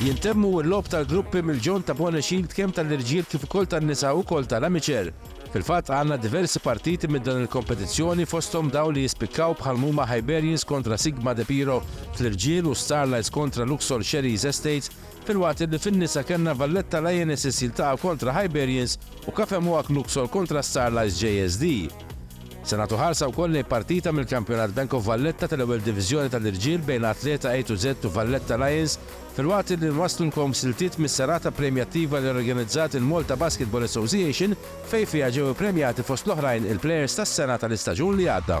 Jintemmu l-logħob tal-gruppi mill-Ġon ta' Bwana Shield kemm tal-irġiel kif ukoll tan-nisa ukoll tal-amateur. Fil-fatt għandna diversi partiti minn dan il-kompetizzjoni fosthom dawn li jispikkaw bħal mhuma Hyberians kontra Sigma De Piro fl-irġiel u Starlights kontra Luxor Sherry's Estates filwaqt illi fin-nisa kellna Valletta Lionesses jiltaqgħu kontra Hyberians u Cafe Mohawk Luxor kontra Starlights JSD. Se nagħtu ħarsa wkoll lejn partita mill-Kampjonat Bank of Valletta tal-Ewwel Diviżjoni tal-Irġiel bejn Athleta A to Z u Valletta Lions filwaqt li nwasslulkom siltiet mis-serata premjattiva li organizzat il-Malta Basketball Association fejn fiha ġew ippremjati fost l-oħrajn il-plejers tas-sena tal-istaġun li għadda.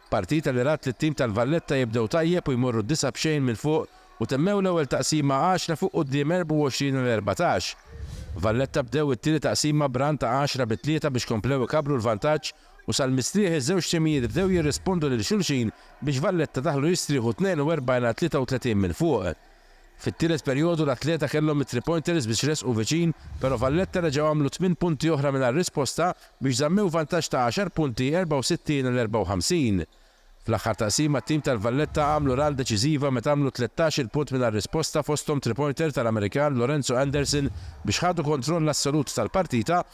Partita li rat lit-tim tal-Valletta jibdew tajjeb u jmorru disa' b'xejn mill-fuq u temmew l-ewwel taqsima għaxra fuq quddiem 24 għal 14. Valletta bdew it-tieni taqsima b'run ta' għaxra bi tlieta biex komplew ikabbru l-vantaġġ u sal-mistrieħ iż-żewġ timijiet bdew jirrispondu lil xulxin biex Valletta daħlu jistrieħu 42 għal 33 mill-fuq. Fit-tielet perjodu l-atleta kellhom it-three pointers biex resqu viċin, pero' Valletta reġgħu għamlu tmien punti oħra mingħajr risposta biex żammew vantaġġ ta' għaxar punti 64 għal 54. Fl-aħħar taqsima t-tim tal-Valletta għamlu run deċiżiva meta għamlu tlettax-il punt mingħajr risposta fosthom three pointer tal-Amerikan Lorenzo Anderson biex ħadu kontroll assolut tal-partita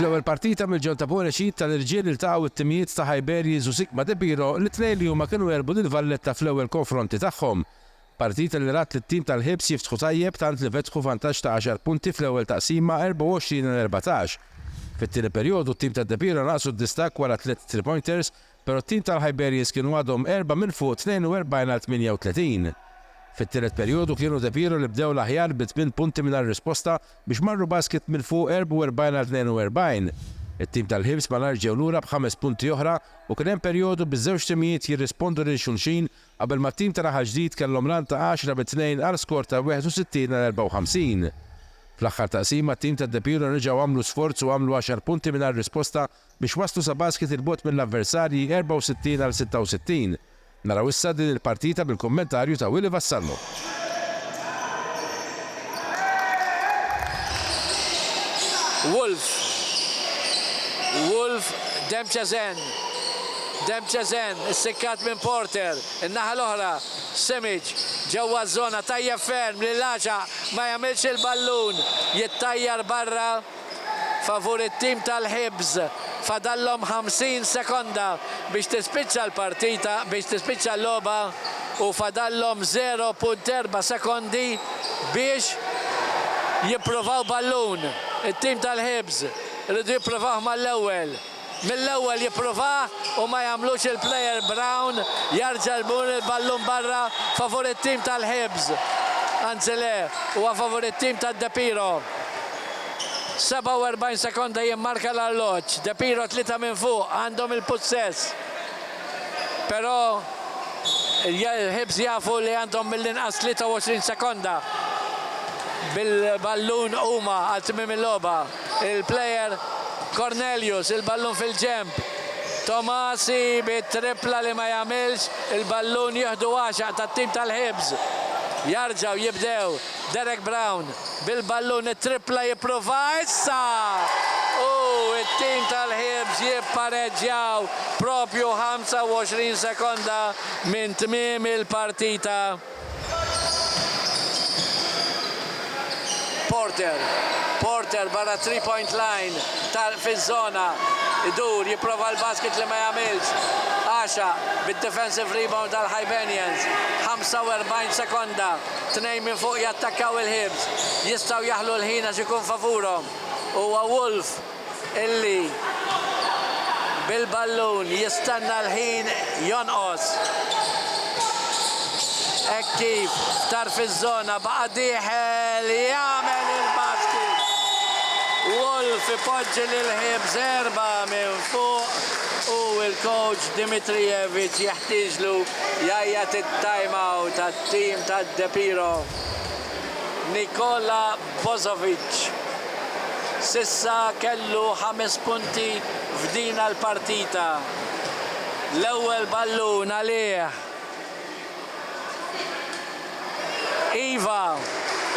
Fl-ewwel partita mill-ġol ta' Buon Exit tal-irġiel iltaqgħu it-timijiet ta' Hajberries u Sikma De Piro li t-tnejn li huma kienu għelbu lil Valletta fl-ewwel konfronti tagħhom. Partita li rat lit-tim tal-Hibs jiftħu tajjeb tant li fetħu vantaġġ ta' għaxar punti fl-ewwel taqsima 24 għal erbatax. Fit-tieni perjodu t-tim ta' De Piro naqsu d-distakk wara tliet three-pointers Però t-tim tal-Hibernians kienu għadhom erbgħa minn fuq 42 għal 38. Fit-tielet perjodu kienu De Piero li bdew l-aħjar bi tmien punti mingħajr risposta biex marru Basket minn fuq 44 għal 42. It-tim tal-Hibs malajr ġew lura b'ħames punti oħra u kien hemm perjodu biż-żewġ timijiet jirrispondu lil xulxin qabel ma t-tim ta' Raħal Ġdid kellhom run ta' għaxra bi tnejn għal skor ta' 61 għal 54. Fl-aħħar taqsima t-tim ta' De Piero reġgħu għamlu sforz u għamlu għaxar punti mingħajr risposta biex waslu sa basket 'il bogħod mill-avversarji 64 għal 66. Naraw issa din il-partita bil-kummentarju ta' Willy Vassallo. Wolf. Wolf Demchezen. Demchezen issikkat minn Porter. In-naħa l-oħra Simic ġewwa ż-żona tajjeb ferm li l-għaxaq ma jagħmilx il-ballun jittajjar barra. favur it-tim tal-Hibs. Fadallhom 50 sekonda biex tispiċċa l-partita biex tispiċċa l-logħba u fadallhom 0.4 sekondi biex jippruvaw ballun. It-tim tal-Hibs iridu jipprovawh mal-ewwel. Mill-ewwel jippruvaha u ma jagħmlux il-player Brown jarġa' jmur il-ballun barra favur it-tim tal-Hibs. Anzi le, huwa favur it-tim ta' De Piro. 47 sekonda jimmarka l-arloġġ. De Piro tlieta minn fuq għandhom il-pussess. Però l-Hibs jafu li għandhom mill-inqas 23 sekonda bil-ballun huma għal tmiem il-logħba. il-plejer Cornelius, il-ballun fil-ġenb, Tomasi bit-trippla li ma jagħmilx, il-ballun jieħdu għaxaq tat-tim tal-Hibs, jarġgħu jibdew, Derek Brown bil-ballun, it-trippla jipprova issa u t-tim tal-Hibs jippareġġjaw propju 25 sekonda minn tmiem il-partita. Porter, Porter barra t-three point line tal fiż-żona idur jipprova l-basket li ma jagħmilx. Għaxa bid-defensive rebound għal Hibernians. 45 sekonda, tnejn minn fuq jattakkaw il-Hibs. Jistgħu jaħlu l-ħin għax ikun favurhom. Huwa Wolf illi bil-ballun jistenna l-ħin jonqos hekk kif f'tarf iż-żona baqa' dieħel jagħmel il-basket. Wolf ipoġġi lil Hibs erba' minn fuq u l-kowċ Dimitrijevic jeħtieġlu jgħajjat it-time out għat-tim ta' De Piro. Nikola Bozovic s'issa kellu ħames punti f'din għall-partita. L-ewwel ballun għalih. Iva,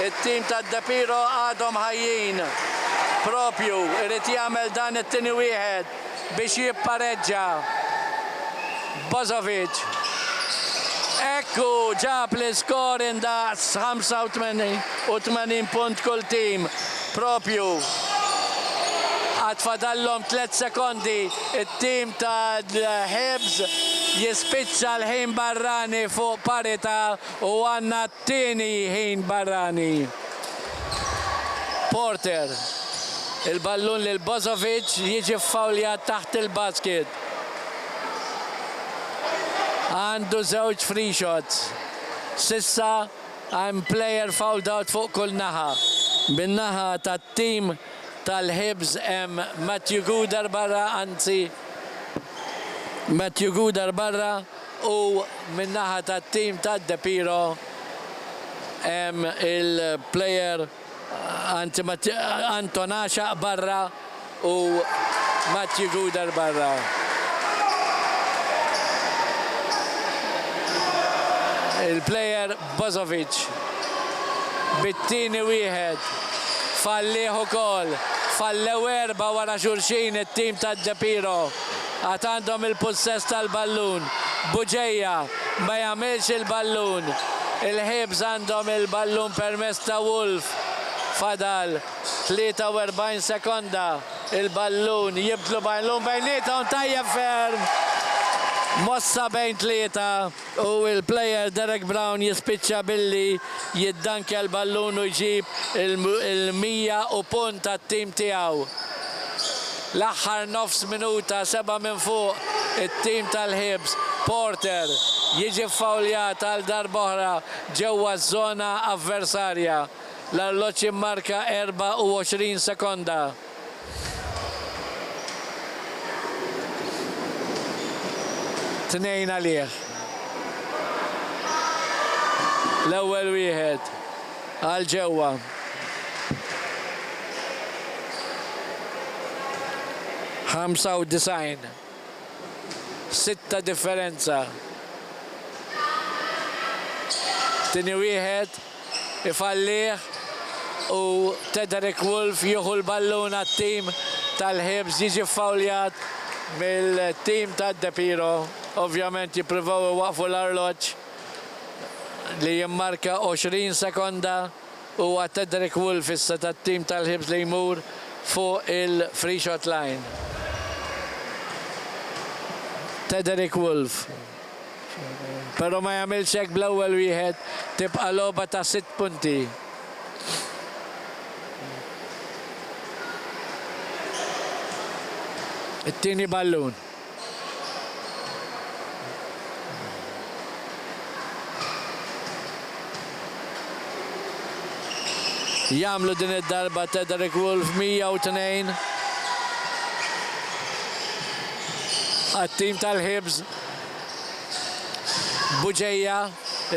it-tim ta' De Piro għadhom ħajjin. Propju, irid jagħmel dan it-tieni wieħed. biex jippareġġa Bozovic. Hekk hu ġab l-iskor indaqs 85 punt kull tim proprju. Għad fadallhom tliet sekondi t-tim tal-Hibs jispiċċa l-ħin barrani fuq parità u għandna Tieni ħin barrani, Porter, il-ballun lil Bozovic, jiġi ffawljat taħt il-basket. Għandu żewġ free shots. S'issa hemm player fouled out fuq kull naħa. Min-naħa tat-tim tal-Hibs hemm Matthew Gouder barra, anzi, Matthew Gouder barra. U min-naħa tat-tim ta' De Piro hemm il-player Anton Għaxaq barra u Matthew Guder barra. Il-player Bozovic bit-tieni wieħed fallih ukoll. Fallew erbgħa wara xulxin it-tim ta' De Piro. għad għandhom il-pussess tal-ballun, Bugeja ma jagħmilx il-ballun, il-Hibs għandhom il-ballun permezz ta' Wolf, fadal 43 sekonda, il-ballun jibdlu ballun bejniethom tajjeb ferm, mossa bejn tlieta. u l-player Derek Brown jispiċċa billi jiddankja l-ballun u jġib il-mija u punt għat-tim tiegħu. L-aħħar nofs minuta seba' minn fuq it-tim tal-Hibs, Porter jiġi ffawljat għal darba oħra ġewwa ż-żona avversarja. L-arloġġ immarka 24 sekonda. Tnejn għalih. L-ewwel wieħed għal ġewwa. Ħamsa u disgħin. sitt ta' differenza. Tieni wieħed ifallih u Tederick Wolf jieħu l-ballun għat-tim tal-Hibs jiġi ffawljat mill-tim ta' De Piro. Ovvjament jippruvaw iwaqqfu l-arloġġ li jimmarka 20 sekonda. u għad Tedrick Wolf issa tat-tim tal-Hibs li jmur fuq il-freeshot line. Tedrick Wolf, però ma jagħmilx hekk bl-ewwel wieħed, tibqa' logħba ta' sitt punti. It-tieni ballun. Jagħmlu din id-darba Tederick Wolf 102 għat-tim tal-Hibs. Buġeja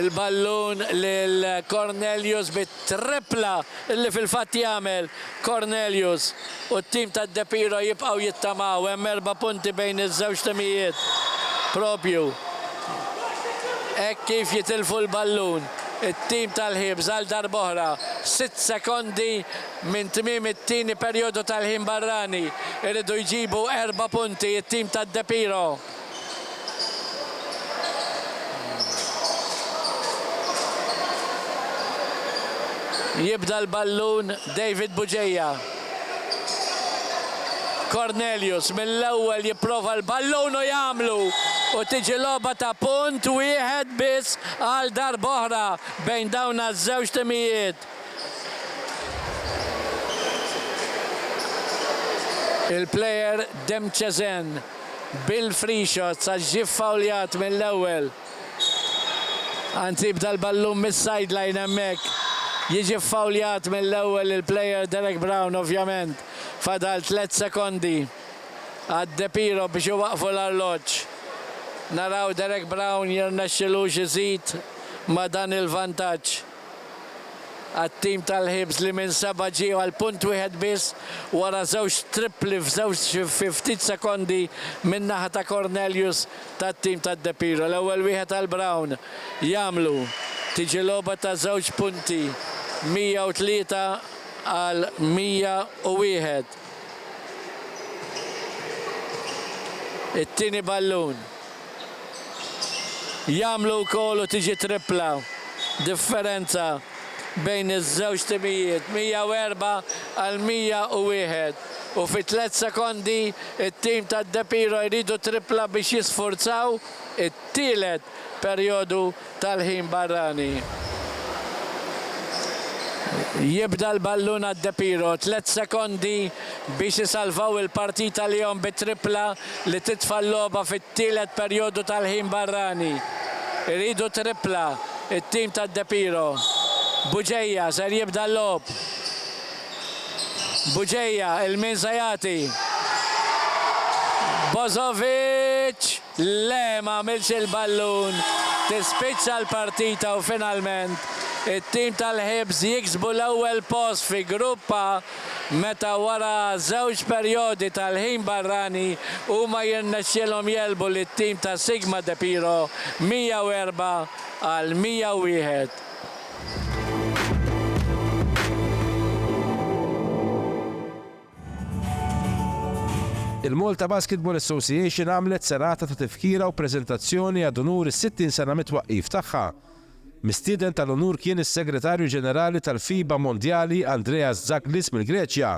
il-ballun lil Cornelius bit Trippla li fil-fatt jagħmel Cornelius u t-tim ta' De Piro jibqgħu jittamaw, hemm erba' punti bejn iż-żewġ timijiet proprju hekk kif jitilfu l-ballun it-tim tal-Hibs għal darb'oħra. Sitt sekondi minn tmiem it-tieni perjodu tal-ħin barrani, iridu jġibu erba' punti t-tim ta' De Piro. Jibda l-ballun David Bugeja. Cornelius mill-ewwel jipprova l-ballun u jagħmlu u tiġi logħba ta' punt wieħed biss għal darb'oħra bejn dawn ż-żewġ timijiet. Il-plejer Demchezen. Bill Frixos għax ġie ffawljat mill-ewwel. Anzi bda l-ballun mis-sideline hemmhekk. Jiġi ffawljat mill-ewwel il-player Derek Brown ovvjament. Fadal tliet sekondi għad De Piro biex iwaqqfu l-arloġġ. Naraw Derek Brown jirnexxilux iżid ma' dan il-vantaġġ. għat-tim tal-Hibs li minn seba' ġie għal punt wieħed biss wara żewġ trippli f'żewġ fi ftit sekondi min-naħa ta' Cornelius tat-tim ta' De Piro. L-ewwel wieħed għal Brown jagħmlu. Tiġi logħba ta' żewġ punti 103 għal 101. It-tieni ballun. jagħmlu wkoll u tiġi trippla differenza bejn iż-żewġ timijiet, 104 għal 101, u fi tliet sekondi t-tim ta' De Piro jridu trippla biex jisfurzaw it-tielet perjodu. tal-ħin barrani. Jibda l-ballun għad De Piro, tliet sekondi biex isalvaw il-partita lihom bi trippla li titfa' l-logħba fit-tielet perjodu tal-ħin barrani. Iridu trippla t-tim ta' De Piro. Bugeja ser jibda l-logħob. Bugeja 'il min se jagħti. Bozovic! Le ma għamilx il-ballun, tispiċċa l-partita u finalment it-tim tal-Hibs jiksbu l-ewwel post fi Grupp A meta wara żewġ perjodi tal-ħin barrani huma jirnexxielhom jegħlbu lit-tim ta' Sigma De Piro 104 għal 101. Il-Malta Basketball Association għamlet serata ta' tifkira u preżentazzjoni ad unur is-60 sena mit-twaqqif tagħha. Mistieden tal-unur kien is-Segretarju Ġenerali tal-FIBA Mondjali Andreas Zaglis mill-Greċja.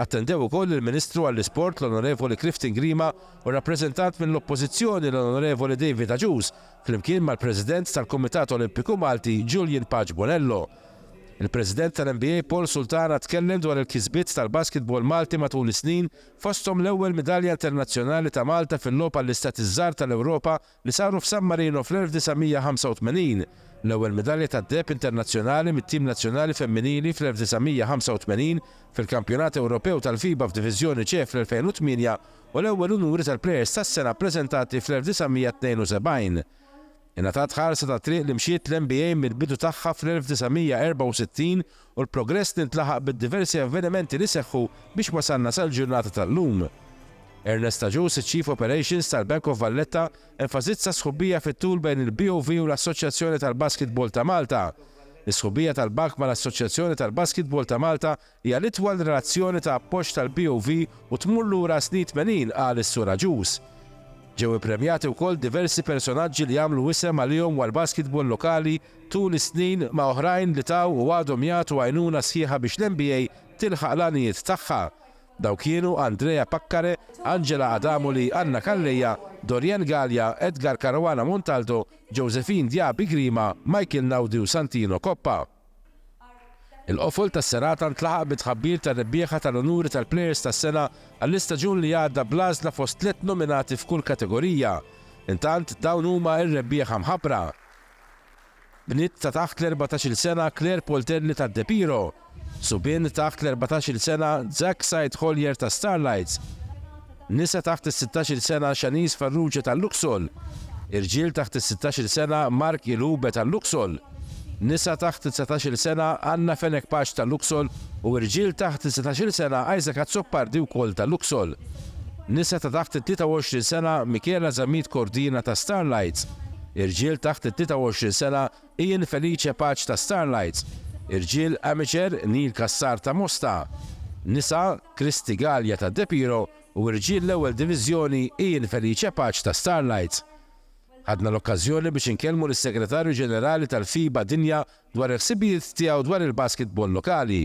Attendew ukoll il-Ministru għall-Isport l-Onorevoli Clifton Grima u rappreżentant mill-Oppożizzjoni l-Onorevoli David Agius flimkien mal-President tal-Kumitat Olimpiku Malti Julian Paċ Bonello. Il-President tal-NBA Paul Sultana tkellem dwar il-kisbiet tal-basketball Malti matul is-snin fosthom l-ewwel midalja internazzjonali ta' Malta fil-Logħob għall-Istati ż-Żgħar tal-Ewropa li saru f'San Marino fl-1985, l-ewwel midalja tad-deheb internazzjonali mit-tim nazzjonali femminili fl-1985 fil-Kampjonat Ewropew tal-FIBA f'Diviżjoni C fl-2008 u l-ewwel unuri tal-Plejers tas-Sena ppreżentati fl-1972. Ingħatat ħarsa tat-triq li mxiet l-NBA mill-bidu tagħha fl-1964 u l-progress li ntlaħaq bid-diversi avvenimenti li seħħu biex wasalna sal-ġurnata tal-lum. Ernest Agius, iċ-Chief Operations tal-Bank of Valletta, enfasizza s-sħubija fit-tul bejn il-BOV u l-Assoċjazzjoni tal-Basketball ta' Malta. Is-sħubija tal-bank mal-Assoċjazzjoni tal-Basketball ta' Malta Hija l-itwal relazzjoni ta' appoġġ tal-BOV u tmur lura s-snin tmenin, qal is-Sur Agius. Ġew ippremjati wkoll diversi personaġġi li għamlu isem għalihom għall-basketball lokali tul is-snin ma' oħrajn li taw u għadhom jagħtu għajnuna sħiħa biex l-NBA tilħaq l-għanijiet tagħha. Dawn kienu Andrea Paccare, Angela Adamoli, Anna Calleja, Dorienne Galea, Edgar Caruana Montaldo, Josephine Diaby Grima, Michael Naudi u Santino Coppa. Il-qofol tas-serata ntlaħaq bi tħabbir tar-rebbieħa tal-unuri tal-Plejers tas-Sena għall-istaġun li għadda bl-għażla fost tliet nominati f'kull kategorija. Intant, dawn huma r-rebbieħa mħabbra. Bniet ta' taħt l-erbatax-il sena Claire Poltelli ta' De Piro. Subien taħt l-erbatax-il sena Zack Said Collier ta' Starlights. Nisa taħt is-sittax-il sena Shanice Farrugia tal-Luxol, irġiel taħt is-sittax-il sena Mark Ilube tal-Luxol, nisa taħt it-dsatax-il sena Anna Fenech Paċ tal-Luxol u irġiel taħt is-setax-il sena Isaac Azzopardi wkoll tal-Luxol, nisa ta' taħt it-23 sena Michela Zammit Cordina ta' Starlights, irġiel taħt it-23 sena Ian Felice Paċ ta' Starlight, irġiel Amateur Neil Cassar ta' Mosta, nisa Christy Galea ta' De Piro u irġiel l-Ewwel Diviżjoni Ian Felice Paċ ta' Starlight. Ħadna l-okkażjoni biex inkellmu lis-Segretarju Ġenerali tal-FIBA Dinja dwar il-ħsibijiet tiegħu dwar il-basketball lokali.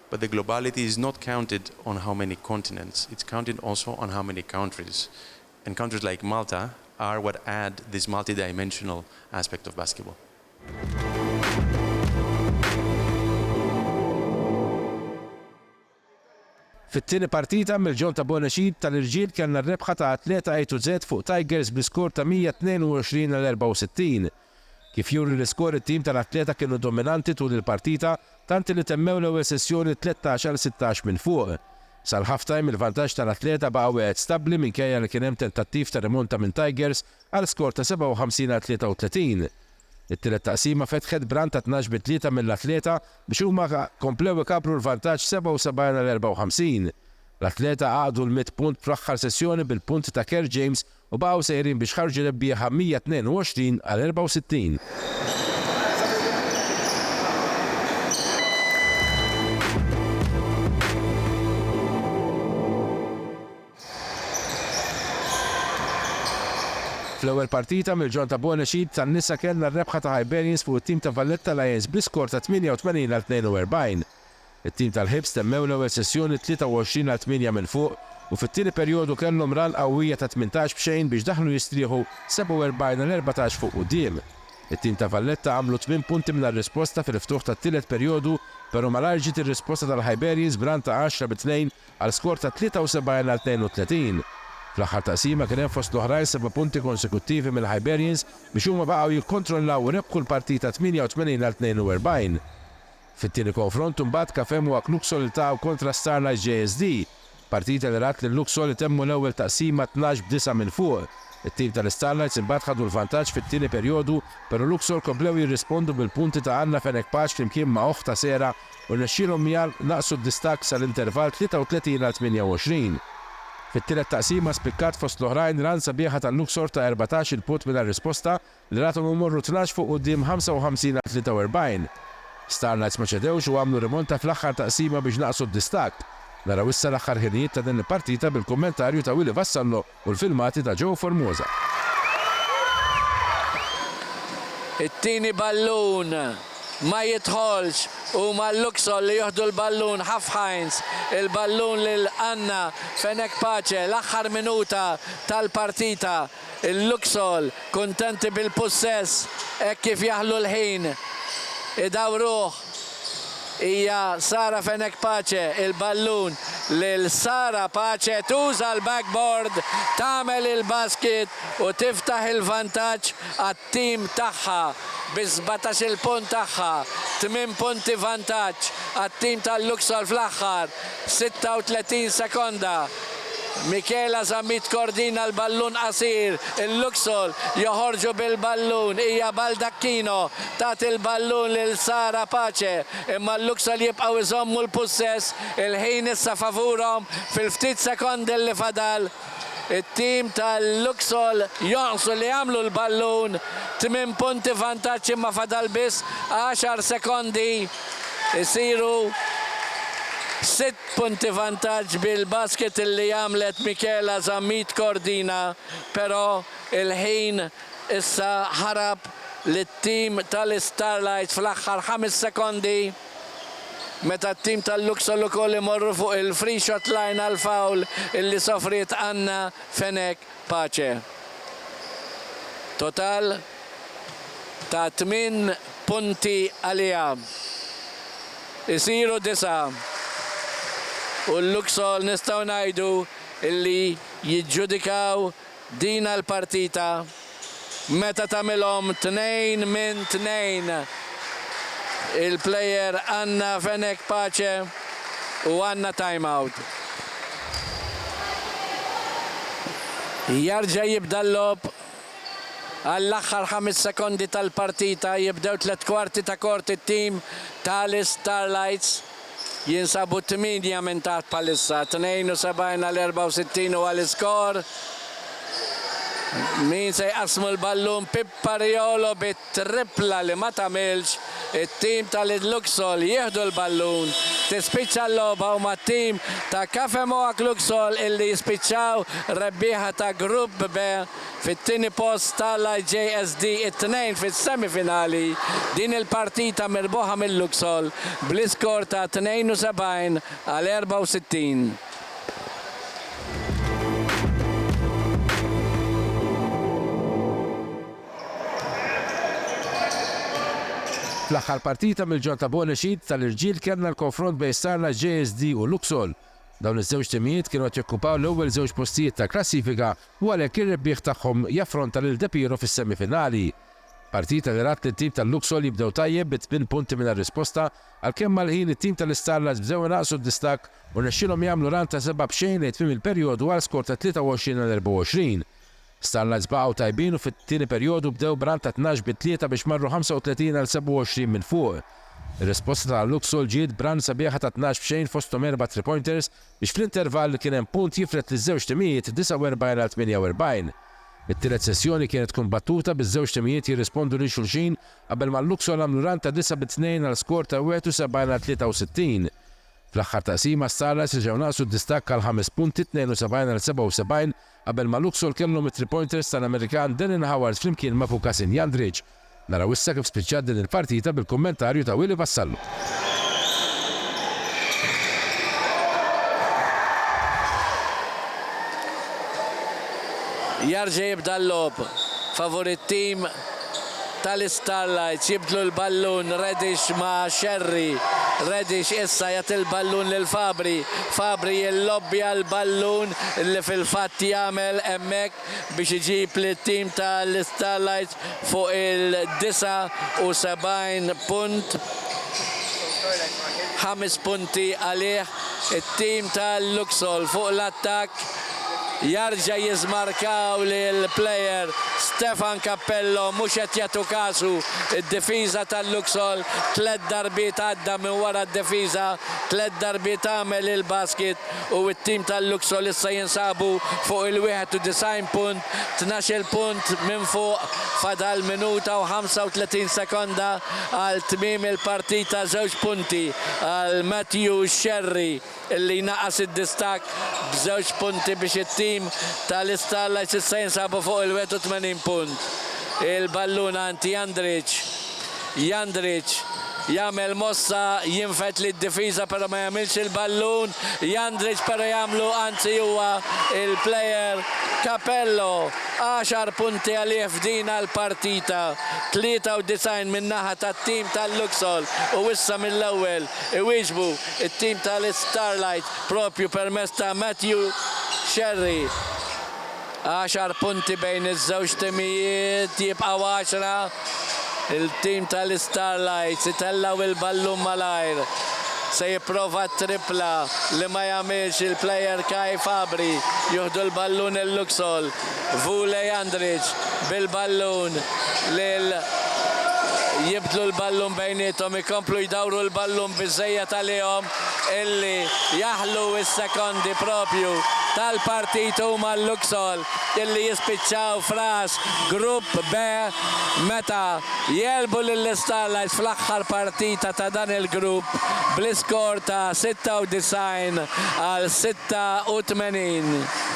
But the globality is not counted on how many continents, it's counted also on how many countries. And countries like Malta are what add this multi-dimensional aspect of basketball. Fit-tieni partita mill-ġeww ta' Bonexid tal-irġiel kellna r-rebħa ta' Athleta A to Z fuq Tigers bl-iskor ta' 122 għal 64. Kif juri l-iskor it-tim tal-Athleta kienu dominanti tul il-partita tant li temmew l-ewwel sessjoni tlettax għal sittax minn fuq. Sal-half-time il-vantaġġ tal-Athleta baqa' wieħed stabbli minkejja li kien hemm tentattiv ta' rimonta minn Tigers għal skor ta' 57 għal 33. It-tielet taqsima fetħet b'run ta' tnax bi tlieta mill-Athleta biex huma komplew ikabbru l-vantaġġ 77 għal 54. L-Athleta għaqdu l-mitt punt fl-aħħar sessjoni bil-punti ta' Kerr James u baqgħu sejrin biex ħarġu rebbieħa 122 għal 64. Fl-ewwel partita mill-ġorn ta' Bonus Eid tan-nisa kellna r-rebħa ta' Hibernians fuq it-tim ta' Valletta Lions bl-iskor ta' 88 għal 42. It-tim tal-Hibs temmew l-ewwel sessjoni 23 għal tmienja minn fuq u fit-tieni perjodu kellhom run qawwija ta' tmintax b'xejn biex daħlu jistrieħu 47 għal erbatax fuq quddiem. It-tim ta' Valletta għamlu tmien punti mingħajr risposta fil-ftuħ tat-tielet perjodu pero' malajr ġiet ir-risposta tal-Hiberians b'run ta' għaxra bi tnejn għal skor ta' 73 għal 32. Fl-aħħar taqsima kien hemm fost l-oħrajn seba' punti konsekuttivi mill-Hiberians biex huma baqgħu jikkontrollaw u rebħu l-partita 88 għal 42. Fit-tieni konfront imbagħad Cafem u Ak Luxol iltaqgħu kontra Starlight JSD, partita li rat lil Luxol itemmu l-ewwel taqsima tnax b'disgħa minn fuq. It-tim tal-Starlights imbagħad ħadu l-vantaġġ fit-tieni perjodu pero Luxol komplew jirrispondu bil-punti ta' Anna Fenech Paċ flimkien ma' oħtha Sera u rnexxielhom miha naqqsu d-distakk sal-intervall 33 għal 28. Fit-tielet taqsima spikkat fost l-oħrajn run sabiħa tal-Luxor ta' erbatax-il punt mingħajr risposta L-Ratum imorru tnax fuq quddiem 55 għal 43. Starlights ma ċedewx u għamlu rimonta fl-aħħar taqsima biex naqqsu d-distakk. Naraw issa l-aħħar ħinijiet ta' din il-partita bil-kummentarju ta' Willy Vassallo u l-filmati ta' Joe Formosa. It-tieni ballun ma jidħolx, huma l-Luxol li jieħdu l-ballun, Haf Heinz il-ballun lil Anna Fenech Pace, l-aħħar minuta tal-partita. Il-Luxol kuntenti bil-pussess hekk kif jaħlu l-ħin idawruh. Hija Sara Fenech Pace il-ballun lil Sara Pace tuża l-backboard tagħmel il-basket u tiftaħ il-vantaġġ għat-Tazza. it-tim tagħha bi sbatax-il punt tagħha, tmien punti vantaġġ għat-tim ta' Luxol fl-aħħar 36 sekonda. Michela Zammit tkordina l-ballun qasir, il-Luxol joħorġu bil-ballun, hija Baldacchino tagħti l-ballun lil Sara Pace imma l-Luxol jibqgħu jżommu l-pussess, il-ħin issa favurhom fil-ftit sekondi li fadal. It-tim tal-Luxol jonqsu li jagħmlu l-ballun, tmien punti vantaġġ imma fadal biss għaxar sekondi jsiru sitt punti vantaġġ bil-basket li għamlet Michaela Zammit Cordina però l-ħin issa ħarab lit-tim tal-Istarlites fl-aħħar ħames sekondi. Meta t-tim tal-Luxol ukoll imorru fuq il-free shot line għal foul illi sofriet Anna Fenech Pace. Total ta' tmien punti għaliha isiru disgħa u l-Luxol nistgħu ngħidu illi jiġġudikaw Dina l-partita meta tagħmilhom tnejn minn tnejn il-player Anna Fenech Pace u għandna timeout. Jerġa' jibda l-logħob għall-aħħar ħames sekondi tal-partita, jibdew tliet kwarti ta' kort it-team tal-Starlights. jinsabu tmienja minn taħt bħalissa, 72 għal 64 huwa l-iskor. Min se jqassmu l-ballun Pippa Riolo bit-trippla li ma tagħmilx, it-tim tal-Luxol jieħdu l-ballun, tispiċċa l-logħba huma t-tim ta' Cafe Moak Luxol illi jispiċċaw rebbieħa ta' Grupp B. fit-tieni post ta' l-IJSD it-Tnejn fis-semi finali, din il-partita mirbuħa mil-Luxol bl-iskor ta' 72 għal 64. Fl-aħħar partita mill-Ġonn ta' Bonexit ta' l-irġiel kellna l-konfront bejn Sarna JSD u Luxol. Dawn iż-żewġ timijiet kienu qed jokkupaw l-ewwel żewġ postijiet tal-klassifika u għalhekk ir-rebbieħ tagħhom jaffronta lil De Piero fis-semifinali. Partita li rat lit-tim tal-Luxol jibdew tajjeb bi tmien punti mingħajr risposta, għalkemm mal-ħin it-tim tal-Istarlats bdew inaqqsu d-distakk u rnexxielhom jagħmlu run ta' seba' b'xejn lejn tmiem il-perjodu għal skor ta' 23 għal 24. Starlights baqgħu tajbin u fit-tieni perjodu bdew b'run ta' tnax bi tlieta biex marru 35 għal 27 minn fuq. Ir-risposta ta' Luxol ġiet b'run sabiħa ta' tnax b'xejn fosthom erba' three pointers biex fl-intervall kien hemm punt jifred liż-żewġ timijiet 49 għal 48. It-tielet sessjoni kienet kumbattuta biż-żewġ timijiet jirrispondu lil xulxin qabel ma' Luxol għamlu run ta' disa' bi tnejn għal skor ta' 71 għal 63. Fl-aħħar taqsima Starlights reġgħu naqqsu d-distakk għal ħames punti 72 għal 77 Qabel ma' Luxol kellhom it-three pointers tal-Amerikan Denin Howard flimkien ma' Vukasin Jandric. Naraw issa kif spiċċat din il-partita bil-kummentarju ta' Willie Vassallo. Jarġa' jibda l-logħob favur it-tim tal-Istarlights jibdlu l-ballun, Reddish ma' Scerri, Reddish issa jagħti l-ballun lil Fabri, Fabri jillobbja l-ballun li fil-fatt jagħmel hemmhekk biex iġib lit-tim tal-Istarlights fuq il-79 punt, ħames punti għalih it-tim tal-Luxol fuq l-attakk. Jarġa jiżmarkaw lil player Stefan Cappello mhux qed jagħtu kasu d-difiża tal-Luxol tliet darbiet għadda minn wara d-difiża tliet darbiet għamel il-basket u t-team tal-Luxol issa jinsabu fuq il-91 punt tnax-il punt minn fuq fadal minuta u 35 sekonda għal tmiem il-partita żewġ punti għal Matthew Scerri. li jnaqqas id-distakk b'żewġ punti biex it-tim ta' l-Starlights issa jinsabu fuq il-81 punt. Il-ballun għand Jandric. Jandric jagħmel mossa jinfed lid-difiża però ma jagħmilx il-ballun. Jandric però jagħmlu anzi huwa il-player Capello. Għaxar punti għalih f'din għall-partita. 93 min-naħa tat-tim tal-Luxol u issa mill-ewwel iwieġbu. It-tim tal-Istarlight propju permezz ta' Matthew Xerri. Għaxar punti bejn iż-żewġ timijiet, jibqgħu għaxra. Il-tim tal-Istarlights itellgħu il-ballun malajr. Se jipprova t-trippla li ma jagħmilx il-plejer Kai Fabri. Jieħdu l-ballun il-Luxol. Vulej Andric bil-ballun lil jibdlu l-ballun bejniethom ikomplu jdawru l-ballun biżżejjed għalihom illi jaħlu s-sekondi proprju tal-partit huma l-Luxol illi jispiċċaw f'ras Grupp B meta jegħlbu lill-Istarlight fl-aħħar partita ta' dan il-grupp bl-iskor ta' 96 għal 86.